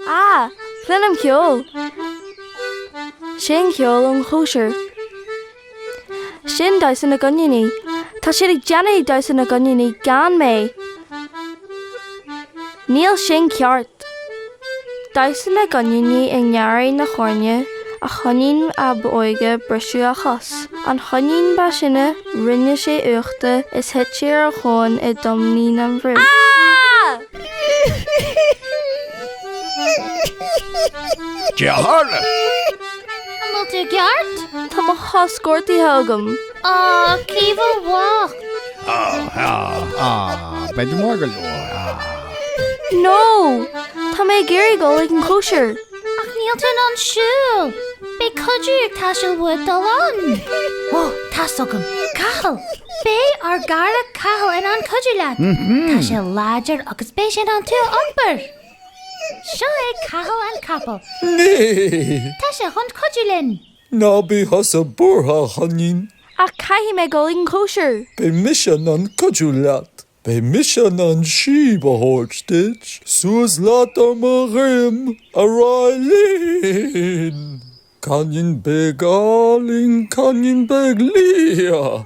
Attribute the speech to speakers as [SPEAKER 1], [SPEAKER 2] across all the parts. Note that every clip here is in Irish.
[SPEAKER 1] Ah! Cluinim ceol! Sin ceol ón chóisir. Sin damhsa na gcoiníní. Tá siad ag déanamh damhsa na gcoiníní gan mé! Níl sin ceart! Damhsa na gcoiníní i ngarraí na heorna, an choinín ab óige briseadh a chos, an choinín ba shine rinne sé uachta is thit sé ar a thóin i dtoimín na
[SPEAKER 2] mbrobh. Cad é a tharla? An
[SPEAKER 3] bhfuil tú i gceart? Tá mo chos
[SPEAKER 1] gortaithe agam. Á, Caoimhe
[SPEAKER 3] bhocht! Á,
[SPEAKER 2] á, á, beidh tú mór go leor, á.
[SPEAKER 1] No! Tá mé ag iarraidh dul ag an chóisir! Ach níl tú in
[SPEAKER 3] ann siúl! Beidh cuidiú ag teastáil uait dul ann! Ó, tá's agam! Cathal! Beidh ár gcara Cathal in ann cuidiú leat! Tá sé láidir agus beidh sé in ann tú a iompar! Seo é Cathal an Capall!
[SPEAKER 4] Tá sé chun
[SPEAKER 3] cuidiú linn! Ná bí
[SPEAKER 4] thusa buartha, a choinín. Ach caithfidh
[SPEAKER 1] mé dul ag an chóisir! Beidh mise in ann
[SPEAKER 4] cuidiú leat. Beidh mise in ann síob a thabhairt duit. Suas leat ar mo dhroim, a Ráillín! Coinín beag álainn, coinín beag liath,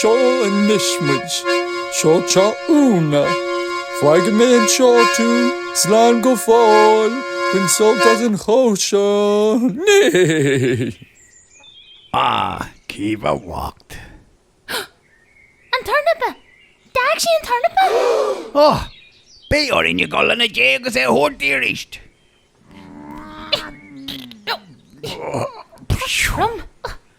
[SPEAKER 4] Seo anois muid. Seo Úna. Fágfaidh mé anseo tú. Slán go fóill. Bain sult as an chóisir. Ah,
[SPEAKER 2] Caoimhe
[SPEAKER 3] bhocht. An tornapa! D'fhág sí an tornapa!
[SPEAKER 2] Oh! Beidh orainn a dhul ina diaidh agus é a thabhairt di aríst.
[SPEAKER 3] Tá sí trom.